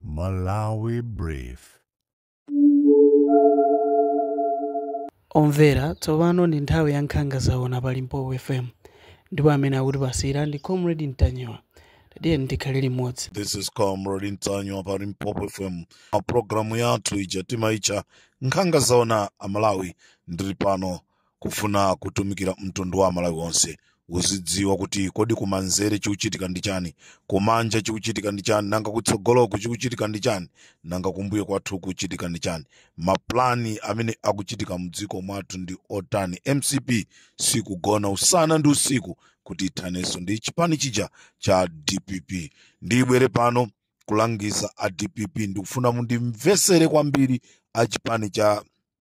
Malawi Brief. omvera tsopano ndi nthawi ya nkhanga zaona pa limpopo fm ndipo amene akutipatsira ndi comrade Ntanyiwa tatiyeni tikhale limodzi This is Comrade Ntanyiwa pa Limpopo FM. Pa programu yathu ija timaicha nkhanga zaona Amalawi ndili pano kufuna kutumikira mtundu wa amalawi onse uzidziwa kuti kodi kumanzere chikuchitika ndi chani kumanja chikuchitika ndi chani nanga kutsogoloku chikuchitika ndi chani nanga kumbuyo kwathu kuchitika ndi chani maplani amene akuchitika mdziko mwathu ndi otani mcp sikugona usana ndi usiku kuti ithanenso ndi chipani chija cha dpp ndibwere pano kulangiza a dpp ndikufuna mundimvesere kwambiri a chipani cha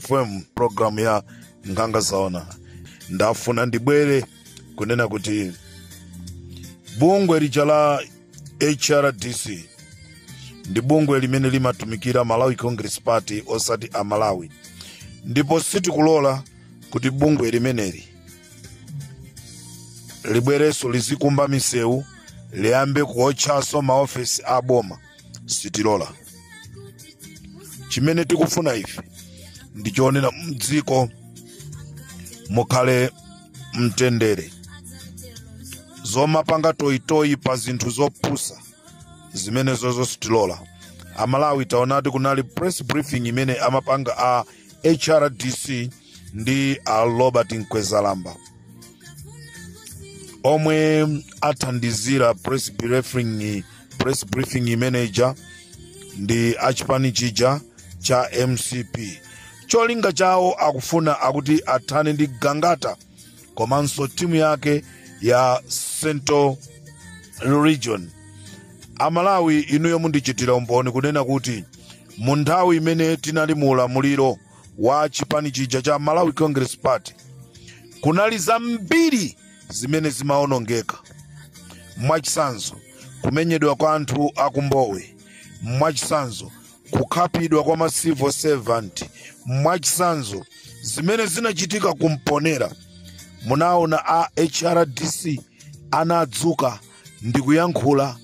fm program ya nkhanga zaona ndafuna ndibwere kunena kuti bungwe lija la hrdc ndi bungwe limene limatumikira malawi congress party osati a malawi ndipo sitikulola kuti bungwe limeneli libwerenso lizikumba misewu liyambe kuotchanso maofesi a boma sitilola chimene tikufuna ife ndi choona mdziko mukhale mtendere zomapanga toyitoyi pa zinthu zopusa zimenezozo sitilola amalawi taonadi kunali press briefing imene amapanga a hrdc ndi a robert mkwezalamba omwe athandizira press briefing imeneja ndi achipani chija cha mcp cholinga chawo akufuna akuti athane ndi gangata komanso timu yake ya central region amalawi inuyo mundichitira umboni kunena kuti mu nthawi imene tinali mu ulamuliro wa chipani chija cha malawi congress party kunali zambiri zimene zimaonongeka mwachitsanzo kumenyedwa kwa anthu aku Mbowe mwachitsanzo kukhapidwa kwa ma civil servant mwachitsanzo zimene zinachitika ku Mponela munaona a hrdc anadzuka ndikuyankhula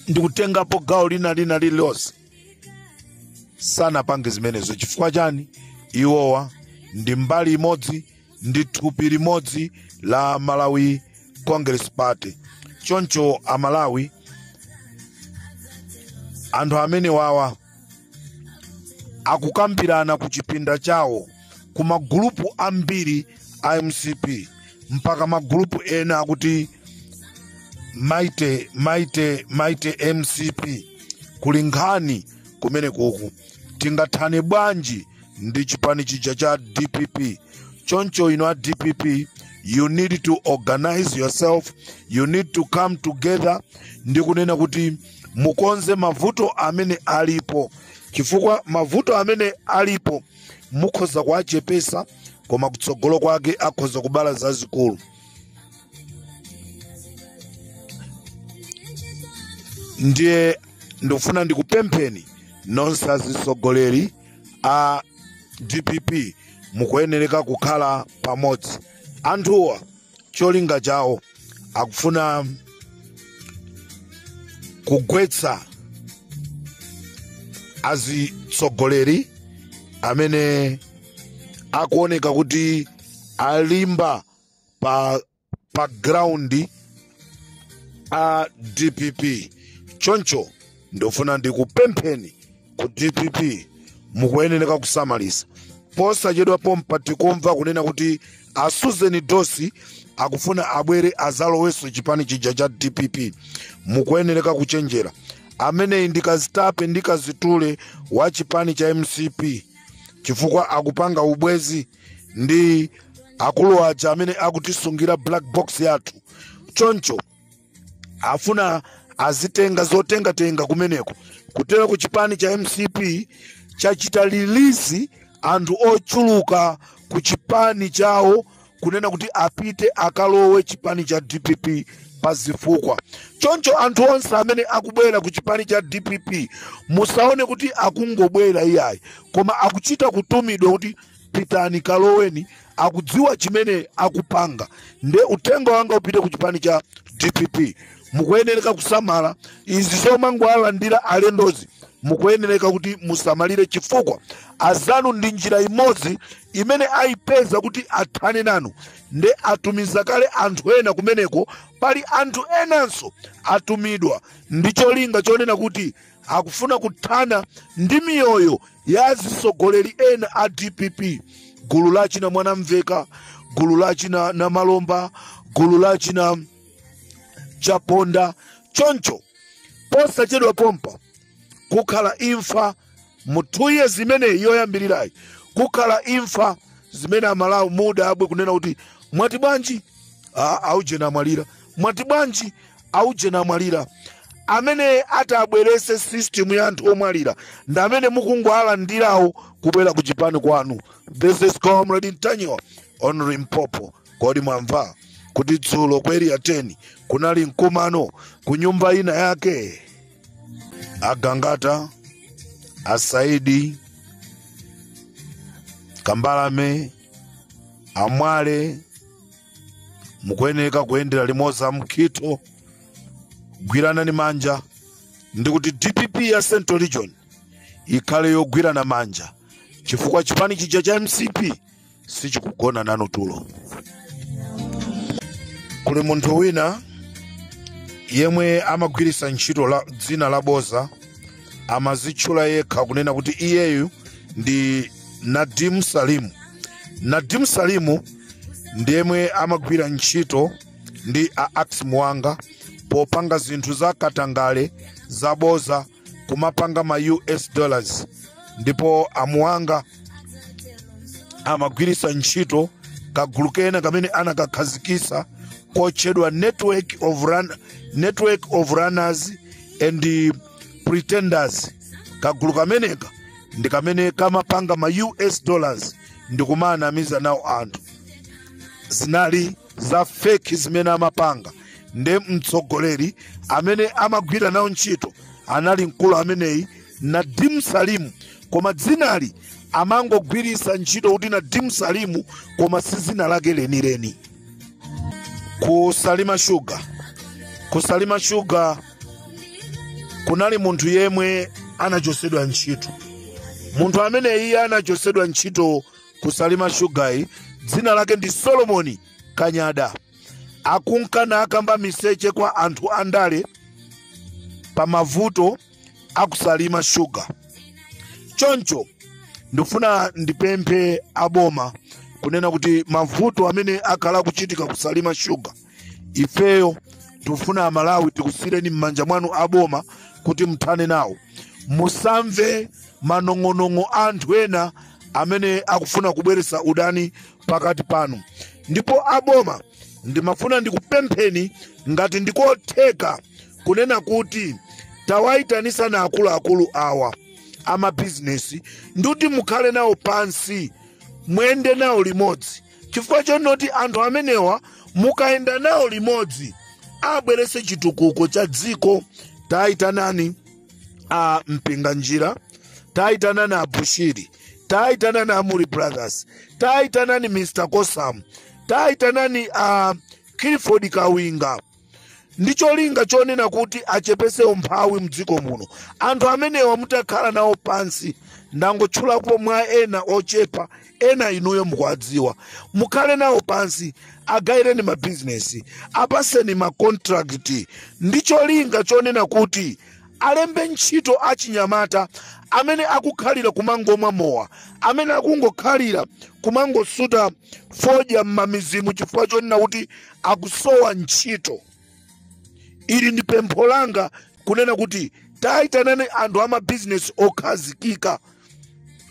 ndikutengapo gawo lina lina lililonse sanapange zimenezo chifukwa chani iwowa ndi mbali imodzi ndi thupi limodzi la malawi congress party choncho amalawi anthu amenewawa akukambirana ku chipinda chawo ku magulupu ambiri a mcp mpaka magulupu ena akuti maite maite maite mcp kuli nkhani kumene kuku tingathane bwanji ndi chipani chija cha dpp choncho inu a dpp you need to organize yourself you need to come together ndi kunena kuti mukonze mavuto amene alipo chifukwa mavuto amene alipo mukhoza kuwachepesa koma kutsogolo kwake akhoza kubala zazikulu ndiye ndikufuna ndikupempheni nonse azitsogoleri a dpp mukuyenereka kukhala pamodzi anthuwa cholinga chawo akufuna kugwetsa azitsogoleri amene akuoneka kuti alimba pa pa ground a dpp choncho ndofuna ndikupempheni ku dpp mukuyenereka kusamalitsa posachedwa pompa tikumva kunena kuti a susan dosi akufuna abwere azalowenso chipani chija cha dpp mukuyenereka kuchenjera ameneyi ndi kazitape ndi kazitule wa chipani cha mcp chifukwa akupanga ubwezi ndi akulu aja amene akutisungira black box yathu choncho afuna azitenga zotengatenga kumeneko kutera ku chipani cha mcp chachita release anthu ochuluka ku chipani chawo kunena kuti apite akalowe chipani cha dpp pa zifukwa choncho anthu onse amene akubwera ku chipani cha dpp musaone kuti akungobwera iyayi koma akuchita kutumidwa kuti pitani kaloweni akudziwa chimene akupanga nde uthenga wanga upite ku chipani cha dpp mukuyenereka kusamala izi zomangowalandira alendozi mukuyenereka kuti musamalire chifukwa azanu ndi njira imodzi imene ayipeza kuti athane nanu nde atumiza kale anthu ena kumeneko pali anthu enanso atumidwa ndi cholinga chonena kuti akufuna kuthana ndi miyoyo ya azitsogoleri ena a dpp gulu la achina mwanamveka gulu la achina namalomba gulu la achina chaponda choncho posachedwa pompa kukhala imfa mu two years zimenezi yoyambirirayi kukhala imfa zimene amalawi mudabwe kunena kuti mwati bwanji Ah, aujeni amwalira mwati bwanji aujeni amwalira amene atabwerese system ya anthu omwalira ndi amene mukungoalandirawo kubwera ku chipani kwanu this is comrade ntanyiwa on limpopo kodi mwamva kuti dzulo ku area 10 kunali mkumano ku nyumba ina yake agangata asaidi kambalame amwale mukuyeneka kuyendera limodzi amkhitho gwirana ni manja ndikuti dpp ya central region ikhale yogwirana manja chifukwa chipani chija cha mcp sichikugona nanu tulo kuli munthu wina yemwe amagwiritsa ntchito dzina la boza amazitchula yekha kunena kuti iyeyu ndi nadim salimu nadim salimu ndi yemwe amagwira ntchito ndi a ax muwanga popanga zinthu za katangale zaboza kumapanga ma us dollars ndipo amuwanga amagwiritsa ntchito kagulu kena kamene anakakhazikisa kotchedwa network of runners and pretenders kagulu kameneka ndi kamene kamapanga ma us dollars ndikumaanamiza nawo anthu zinali za feki zimene amapanga nde mtsogoleri amene amagwira nawo ntchito anali mkulu ameneyi nadim salimu koma dzinali amangogwiritsa ntchito kuti nadim salimu koma si dzina lake lenileni ku salima shuga kunali munthu yemwe anachosedwa ntchito munthu amene iye anachosedwa ntchito ku salima shugayi dzina lake ndi solomoni kanyada ankanka nakamba miseche kwa anthu andale pa mavuto a ku salima shuga choncho ndifuna ndipemphe aboma kunena kuti mavuto amene akhala akuchitika ku salima shuga ifeyo tikufuna amalawi tikusiyireni m'manja mwanu aboma kuti muthane nawo musamve manong'onong'o a anthu ena amene akufuna kubweretsa udani pakati panu ndipo aboma ndimafuna ndikupempheni ngati ndikotheka kunena kuti tawayitanisani akuluakulu awa amabizinesi ndikuti mukhale nawo pansi muyende nawo limodzi chifukwa chonoti anthu amenewa mukayenda nawo limodzi abwerese chitukuko cha dziko tayitanani a mpinganjira tayitanani a bushiri tayitanani a muri brothers tayitanani mr kosam tayitanani a clifford kawinga ndi cholinga chonena kuti achepese umphawi mdziko muno anthu amenewa mutakhala nawo pansi ndangotchulapo mwa ena ochepa ena inuyo mukuwadziwa mukhale nawo pansi agayireni mabizinesi apaseni makontrakiti ndi cholinga chonena kuti alembe ntchito achinyamata amene akukhalira kumangomwa mowa amene akungokhalira kumangosuta fodya m'mamizimu chifukwa chonena kuti akusowa ntchito ili ndi pempho langa kunena kuti tayitanani anthu a mabizinesi okhazikika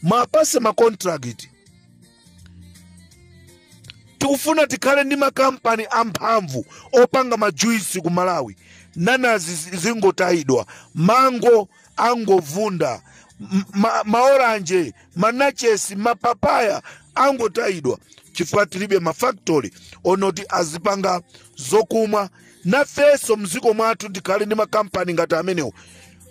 muwapase makontrakiti tikufuna tikhale ndi makampani amphamvu opanga majuisi ku malawi nanazi zingotayidwa mango angovunda maoranje manachesi mapapaya angotayidwa chifukwa tilibe mafaktori onoti azipanga zokumwa nafenso mdziko mwathu tikhale ndi makampani ngati amenewo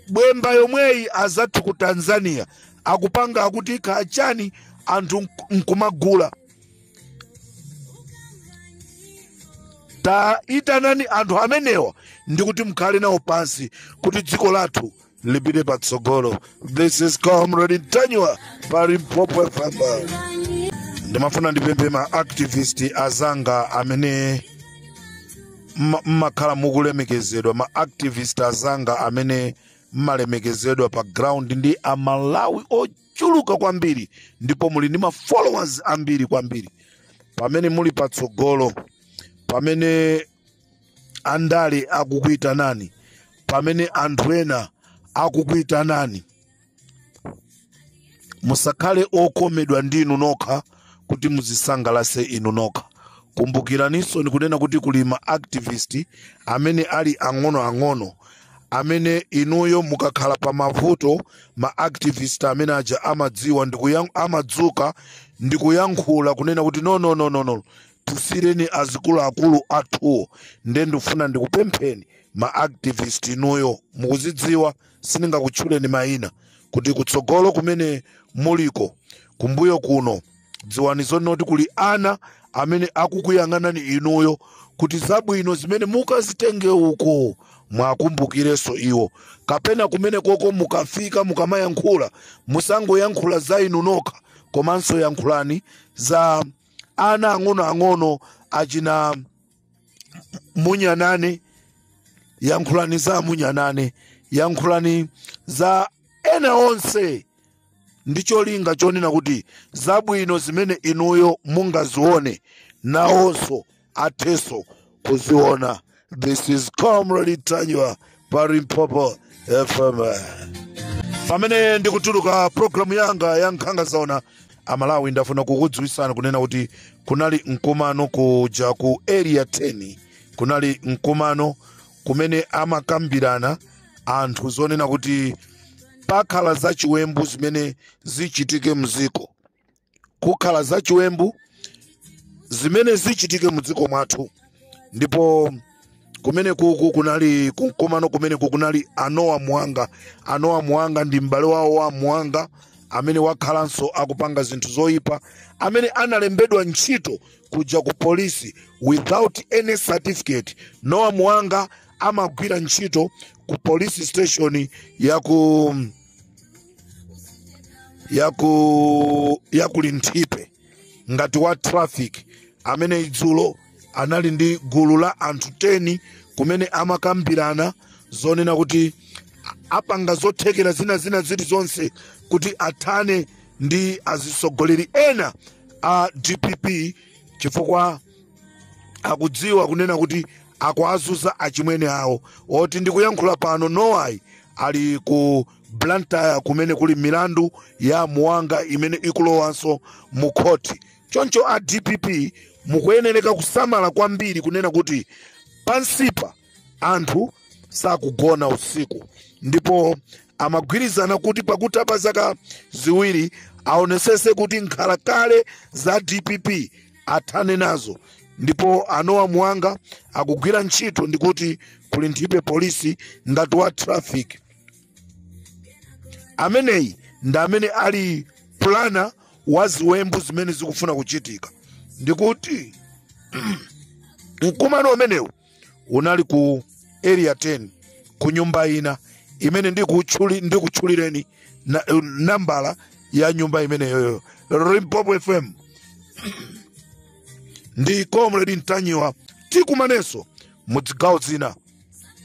bwemba yomweyi azathu ku tanzania akupanga akuti kachani anthu nkumagula taitanani anthu amenewa ndi kuti mukhale nawo pansi kuti dziko lathu lipite patsogolo this is comrade ntanyiwa pa limpopo fm ndimafuna ndipemphe ma activist azanga amene mmakhala mukulemekezedwa ma activist azanga amene mmalemekezedwa pa ground ndi amalawi oche chuluka kwambiri ndipo muli ndi ma followers ambiri kwambiri pamene muli patsogolo pamene andale akukuitanani pamene anthu ena akukuitanani musakhale okomedwa ndinu nokha kuti muzisangalase inu nokha kumbukiraninsoni kunena kuti kuli ma activist amene ali ang'onoang'ono amene inuyo mukakhala pa mavuto ma activist amene aja amadziwa ndikuyan- amadzuka ndikuyankhula kunena kuti no no no no no tisiireni azikuluakulu athuwo nde ndifuna ndikupempheni ma activist inuyo mukuzidziwa sindingakutchuleni mayina kuti kutsogolo kumene muliko kumbuyo kuno dziwani zonena kuti kuli ana amene akukuyang'anani inuyo kuti zabwino zimene mukazitenge uko mwakumbukirenso iwo kapena kumene koko mukafika mukamayankhula musangoyankhula za inu nokha komanso yankhulani za ana ang'onoang'ono achina munyanane yankhulani za munyanane yankhulani za ena onse ndi cholinga chonena kuti zabwino zimene inuyo mungazione nawonso athenso kuziona this is comrade ntanyiwa pa limpopo fm pamene ndikutuluka programu yanga ya nkhanga zaona amalawi ndafuna kukudziwisani kunena kuti kunali mkumano kuja ku area 10 kunali mkumano kumene amakambirana anthu zonena kuti pakhala zachiwembu zimene zichitike mziko kukhala zachiwembu zimene zichitike mziko mwathu ndipo kumene kukukunali mkumano kumene kukunali a noah muhanga a noah muhanga ndi m'bale wawo wa muhanga amene wakhalanso akupanga zinthu zoyipa amene analembedwa ntchito kuja ku polisi without any certificate noah muhanga amagwira ntchito ku police station ya ku ya ku linthipe ngati wa traffic amene idzulo anali ndi gulu la anthu 10 kumene amakambirana zonena kuti apanga zothekera zina zina zilizonse kuti athane ndi azisogoleri ena a dpp chifukwa akudziwa kunena kuti akuwazunza achimwene awo oti ndikuyankhula pano noah-yi ali ku blantyre kumene kuli milandu ya muhanga imene ikulowanso mu khoti choncho a dpp mukuyenereka kusamala kwambiri kunena kuti pansipa anthu sakugona usiku ndipo amagwirizana kuti pakutha pa zaka ziwiri aonesese kuti nkhalakale za dpp athane nazo ndipo a noah muhanga akugwira ntchito ndikuti ku linthipe polisi ngati wa traffic ameneyi ndi amene ali planner wa ziwembu zimene zikufuna kuchitika ndikuti mkumano umenewu unali ku area 10 ku nyumba ina imene ndikutchulireni nambala ya nyumba imeneyoyo limpopo fm ndi comrade ntanyiwa tikumanenso mu zigawo zina